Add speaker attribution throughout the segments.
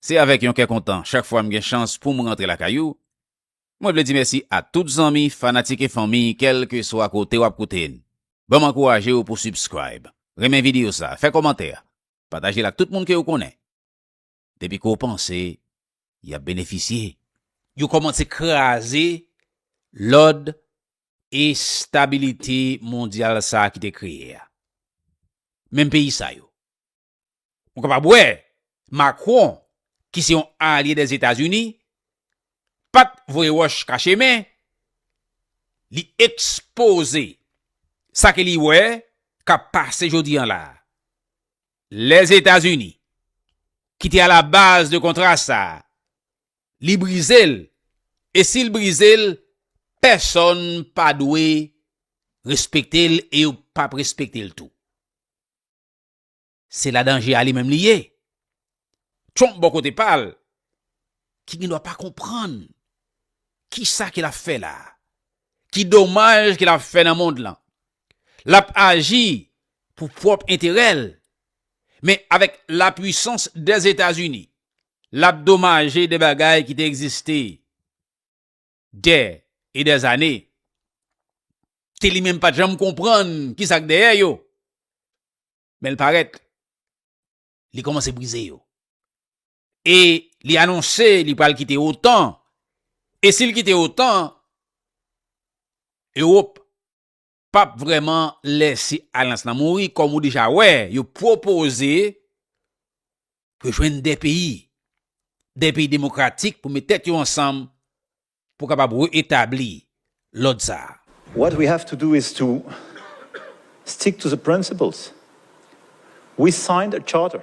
Speaker 1: Se avèk yon kè kontan chak fwa m gen chans pou m rantre lakay ou. Mwen vle di mèsi a tout zanmi, fanatik e fanmi kèlkeswa kote w ap koute n. Ban m ankouraje w pou subscribe, renmen videyo sa, fè kòmantè, pataje l ak tout moun ke ou konnen. Depi ke w panse y ap benefisye. Yo kòmanse kraze lòd e stabilite mondyal sa ki te kreye a. Menm peyi sa yo. Ou kapab wè, Macron, ki se yon alye dè Etazini, pa t voye wòch kache men, li ekspoze sa ke li wè k ap pase jodi an la a. Lè Etazini, ki te alabaz de kontra sa a, li brize l, e si l brize l, pèsonn pa dwe respekte l e yo p ap respekte l tou. Se la danje a li menm li ye. Trump bò kote pa l, ki gen dwa pa konprann ki sa ke l ap fè la a, ki domaj ke l ap fè nan mond lan. L ap aji pou pwòp enterè l, men avèk lapwisans Dèzetazini, l ap domaje de bagay ki te egziste. dè e dè zane, ke li menm pa t janm konprann ki sa k dèyè yo, men l parèt, li kòmanse brize yo. E li anonse li pral kite otan, e si l kite otan, Ewop pap vrèman lèse alyans lan mouri kòm ou deja wè yo pwopoze yo jwenn 2 peyi, 2 peyi demokratik pou met tèt yo ansanm pou kapab re-etabli lòd sa a. What we have to do
Speaker 2: is to stick to the principles. We signed a charter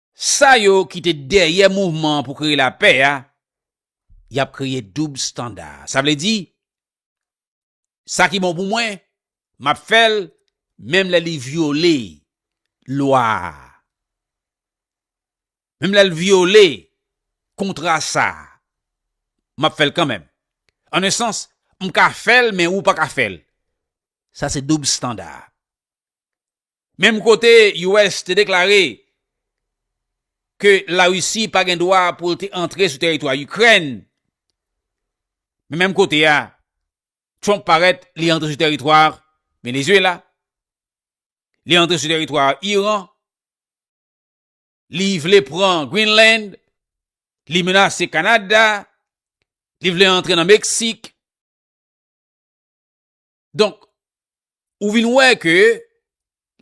Speaker 1: Sa yo ki te dèyè mouvman pou kreye lapè a, y ap kreye doub standa. Sa vle di, sa ki bon pou mwen, m ap fè l, menm lè li vyole lwa a, menm lè l vyole kontra sa a, m ap fè l kanmenm. An e sans, m ka fè l men ou pa ka fè l. Sa se doub standa. Menm kote US te deklare ke La Risi pa gen dwa pou l te antre sou teritwa Ikrèn, men menm kote a Trump parèt li antre sou teritwa Venezuela, li antre sou teritwa Iran, li vle pran Greenland, li menase Kanada, li vle antre nan Meksik. Donk, ou vin wè ke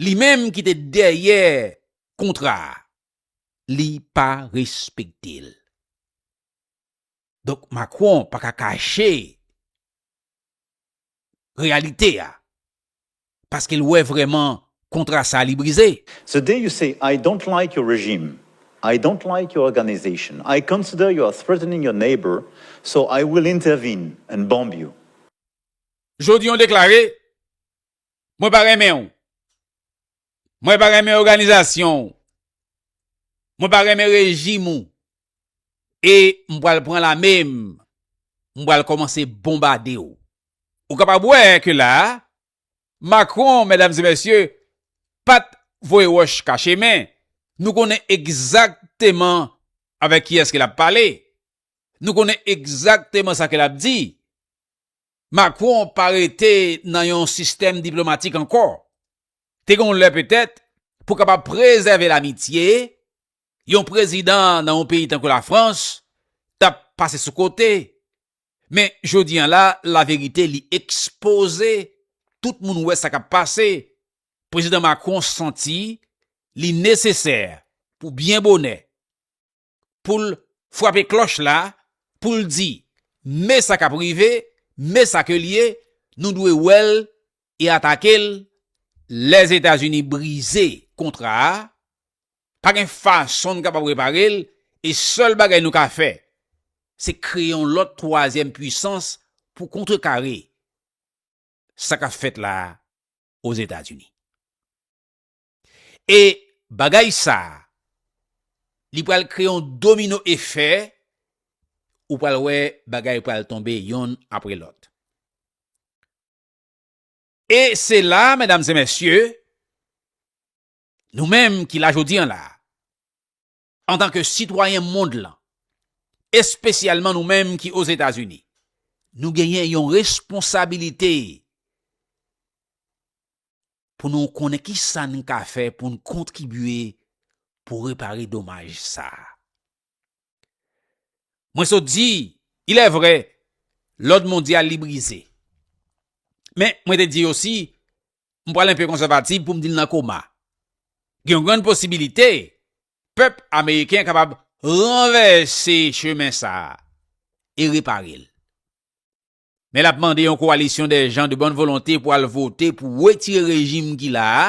Speaker 1: li menm ki te dèyè kontra a, li pa respekte l. Donk, Macron pa ka kache reyalite a, paske l wè vreman kontra sa li brize. The day you say
Speaker 2: I don't like your regime, I don't like your organization, I consider you are threatening your neighbor, so I will intervene and bomb you.
Speaker 1: Jodi yon deklare, mwen pa renmen ou. Mwen pa renmen oganizasyon ou. Mwen pa renmen rejim ou. E mwen pral pran la menm. Mwen pral komanse bombade ou. Ou kapab wè ke la, Macron, medam e mesye, pat voye wòch kache men. Nou konnen egzakteman avèk kiyès ke lap pale. Nou konnen egzakteman sa ke lap di. Macron pa rete nan yon sistèm diplomatik ankò. Te gen yon lè petèt, pou kapab prezève lamitye, yon prezidan nan yon peyi tankou Lafrans t ap pase sou kote. Men jodi an la, laverite li ekspoze, tout moun wè sa k ap pase. Prezidan Macron santi li nesesè pou byen bonè, pou l frape klòch la, pou l di, Men sa k ap rive, men sa ke l ye, nou dwe wè l e atake l. Lè Etazini brize kontra a, pa gen fason n kapab repare l e sèl bagay nou ka fè, se kreye yon lòt twazyèm puisans pou kontrekare sa k ap fèt la Ozetazini. E bagay sa, li pral kreye yon domino efè, ou pral wè bagay pral tonbe yonn apre lòt. E se la, medam e mesye, nou menm ki la jodi an la, Antanke sitwayen mond lan, espesyalman nou menm ki Ozetazini, nou genyen yon responsabilite pou nou konnen ki sa n ka fè pou n kontribye pou repare domaj sa a. Mwen sot di, ilèvre, lòd mondyal li brize. Men, mwen te di osi, m pral enpe konsèvativ pou m di l nan koma. Gen yon grann posibilite pèp ameriken kapab ranvèse chemen sa a e repare l. Men l ap mande yon kowalisyon dè jan de bòn volonte pou al vote pou wetire rejim ki la a,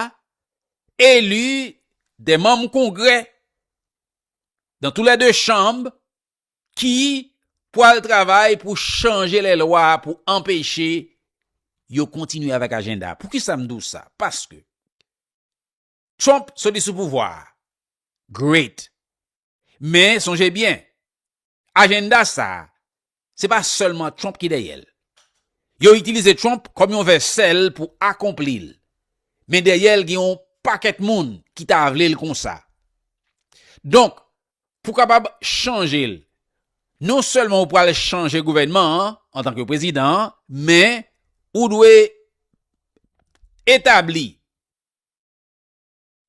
Speaker 1: eli dè manm kongrè dan tou lè de chanb ki pwal travay pou chanje lè lwa pou anpeche yo kontinye avèk ajenda. Pou ki sa m di w sa? Paske Trump soti sou pouvwa a. Great! Men sonje byen, ajenda sa a, se pa sèlman Trump ki dèyè l. Yo itilize Trump kòm yon vèsèl pou akonpli l. Men dèyè l gen yon pakèt moun ki ta vle l konsa. Donk, pou kapab chanje l. Non sèlman ou pral chanje gouvènman an antan ke prezidan an, men ou dwe etabli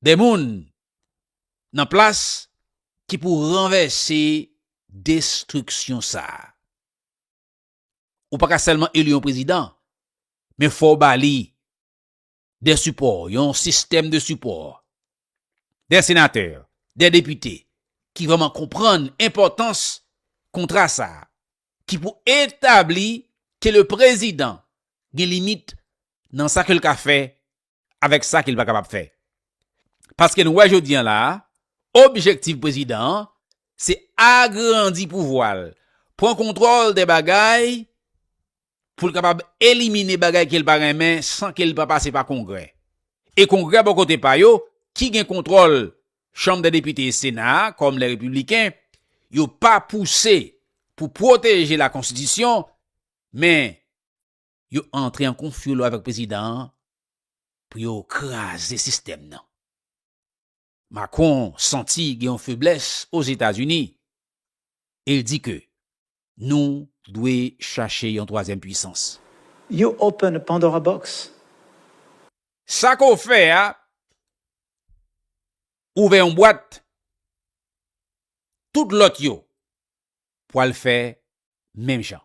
Speaker 1: de moun nan plas ki pou ranvèse destriksyon sa a. Ou pa ka sèlman eli yon prezidan, men fò w ba li de sipò, yon sistèm de sipò, de senatè, de depite, ki vreman konprann enpòtans kontra sa a, ki pou etabli ke le prezidan gen limit nan sa ke l ka fè avèk sa ke l pa kapab fè. Paske nou wè jodi an la a, objektif prezidan an, se agrandi pouvwa l, pran kontwòl de bagay pou l kapab elimine bagay ke l pa renmen san ke l pa pase pa Kongrè. E Kongrè bò kote pa yo, ki gen kontwòl Chanm dè Depite e Sena a kòm lè Repibliken, yo pa pouse pou pwoteje lakonstitisyon, men yo antre an konfyolo avèk Prezidan an pou yo kraze sistèm nan. Macron santi gen yon feblès Ozetazini e l di ke nou dwe chache yon twazyèm pwisans. You open
Speaker 2: a pandora box.
Speaker 1: Sa ke w fè a, ouvè yon bwat, tout lòt yo pwal fè menm jan.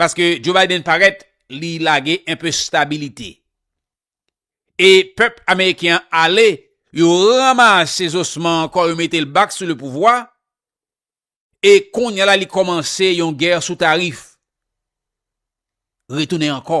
Speaker 1: Paske Joe Biden parèt li lage enpe stabilite. E pèp ameriken an ale, yo ranmase zosman an kò yo mete l bak sou lepouvwa, e kounye a la li kòmanse yon gè sou tarif. Retounen ankò.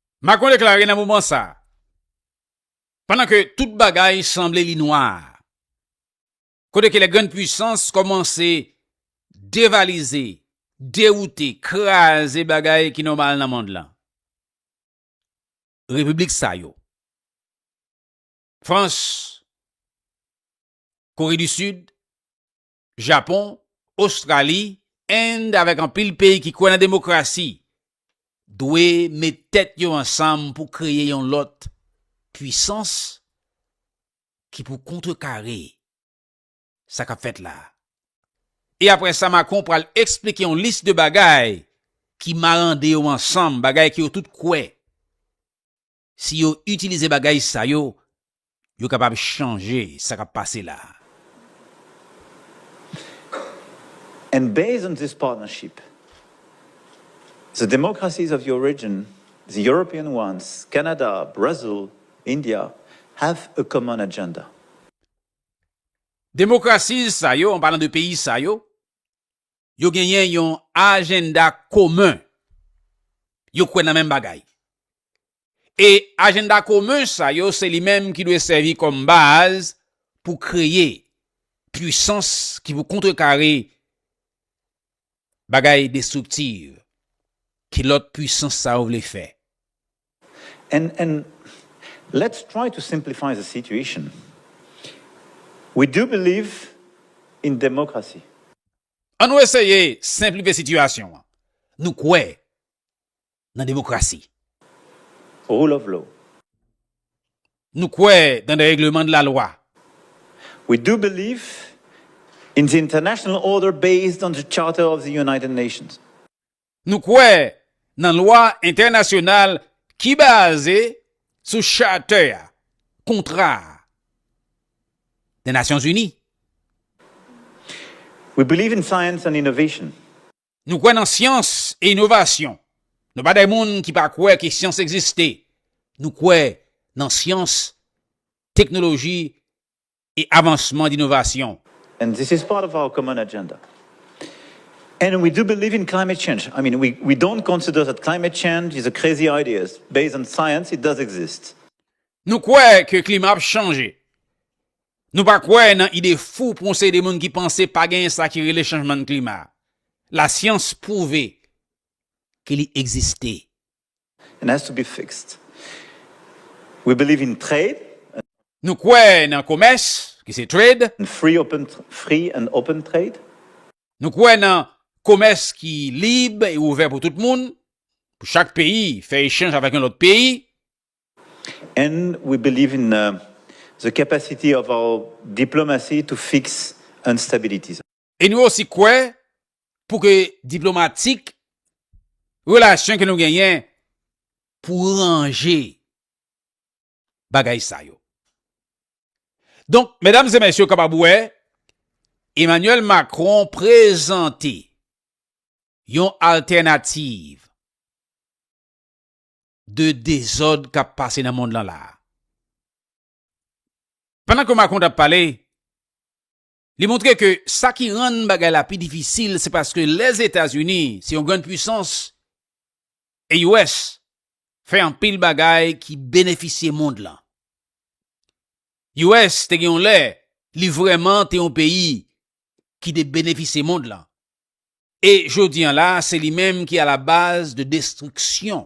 Speaker 1: Macron deklare nan moman sa a, pandan ke tout bagay sanble li nwa, kote ke lè grann pwisans kòmanse devalize, dewoute, kraze bagay ki nòmal nan mond lan. Repiblik sa yo, Frans, Kore di Sid, Japon, Ostrali, End avèk anpil peyi ki kwè nan demokrasi dwe met tèt yo ansanm pou kreye yon lòt pwisans ki pou kontrekare sa k ap fèt la. E aprè sa Macron pral eksplike yon lis de bagay ki marande yo ansanm, bagay ke yo tout kwè. Si yo itilize bagay sa yo, yo kapab chanje sa k ap pase la a.
Speaker 2: And based on this partnership, the democracies of your region, the European ones, Canada, Brazil, India, have a common agenda.
Speaker 1: Democracies sa yo, an palan de peyi sa yo, yo genyen yon ajenda komen, yo kwè nan menm bagay. E ajenda komen sa yo se li menm ki dwe sèvi kòm baz pou kreye pwisans ki pou kontrekare bagay destriktiv ke lòt pwisans sa yo vle fè.
Speaker 2: And and let's try to simplify the situation. We do believe in democracy. An nou
Speaker 1: eseye senplife sitiyasyon an. Nou kwè nan demokrasi.
Speaker 2: Rule of law.
Speaker 1: Nou kwè nan de regleman de la lwa. We
Speaker 2: do believe in the international order based on the charter of the United Nations. Nou kwè
Speaker 1: nan lwa entènasyonal ki baze sou Chate a, Kontra a, de Nasyon Zini.
Speaker 2: We believe in science and innovation. Nou kwè nan
Speaker 1: syans e inovasyon. Nou pa de moun ki pa kwè ke syans egziste. Nou kwè nan syans, teknoloji e avansman d'innovasyon. And this is part
Speaker 2: of our common agenda. And we do believe in climate change. I mean, we don't consider that climate change is a crazy idea. Based on science, it does exist. Nou kwè
Speaker 1: ke klima ap chanje. Nou pa kwè nan ide fou pou yon seri de moun ki panse pa genyen sa ki rele chanjman klima. La syans pwouve ke li egziste. and has
Speaker 2: to be fixed. We believe in trade. Nou kwè
Speaker 1: nan komès, ki se trade. And free open,
Speaker 2: free and open trade. Nou kwè
Speaker 1: nan komès ki lib e ouvè pou tout moun, pou chak peyi fè echanj avèk yon lòt peyi.
Speaker 2: And we believe in the capacity of our diplomacy to fix instabilities. E nou osi
Speaker 1: kwè pou ke diplomatik relasyon ke nou genyen pou ranje bagay sa yo. Donk, medam e mesye kapab wè, Emmanuel Macron prezante yon altènativ de dezòd kap pase nan mond lan la. Pandan ke Macron tap pale, Li montre ke sa ki rann bagay la pi difisil se paske Lèzetazini se yon grann pwisans e US fè anpil bagay ki benefisye mond lan. US te gen yon lè li vrèman te yon peyi ki te benefisye mond lan e jodi an la se li menm ki a la baz de destriksyon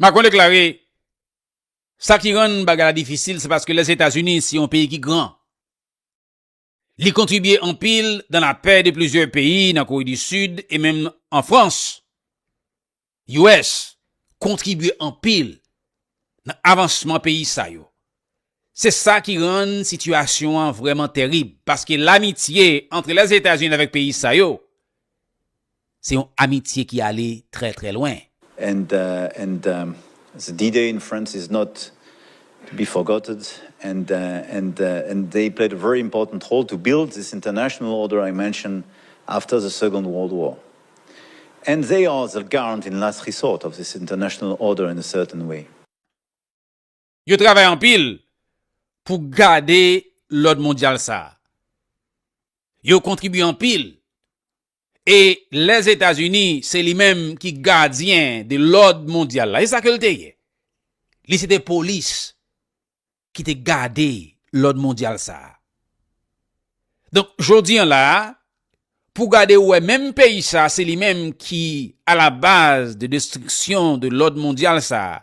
Speaker 2: Macron
Speaker 1: deklare, Sa ki rann bagay la difisil se paske Lèzetazini se yon peyi ki gran. Li kontribye anpil nan lapè de plizyè peyi nan Kore di Sid e menm an Frans. US kontribye anpil nan avansman peyi sa yo. Se sa ki rann sitiyasyon an vrèman terib, paske lamitye antre Lèzetazini avèk peyi sa yo, se yon amitye ki ale trè trè lwen. And and
Speaker 2: the D-Day in France is not to be forgotted and and and they played a very important role to build this international order I mentioned after the Second World War. And they are the garant in last resort of this international order in a certain way.
Speaker 1: Yo travay anpil pou gade lòd mondyal sa. Yo kontribye anpil e Lèzetazini se li menm ki gadyen de lòd mondyal la. E sa ke l te ye? Li se te polis ki te gade lòd mondyal sa. Donk, jodi an la, pou gade ou wè menm peyi sa se li menm ki a la baz de destriksyon de lòd mondyal sa,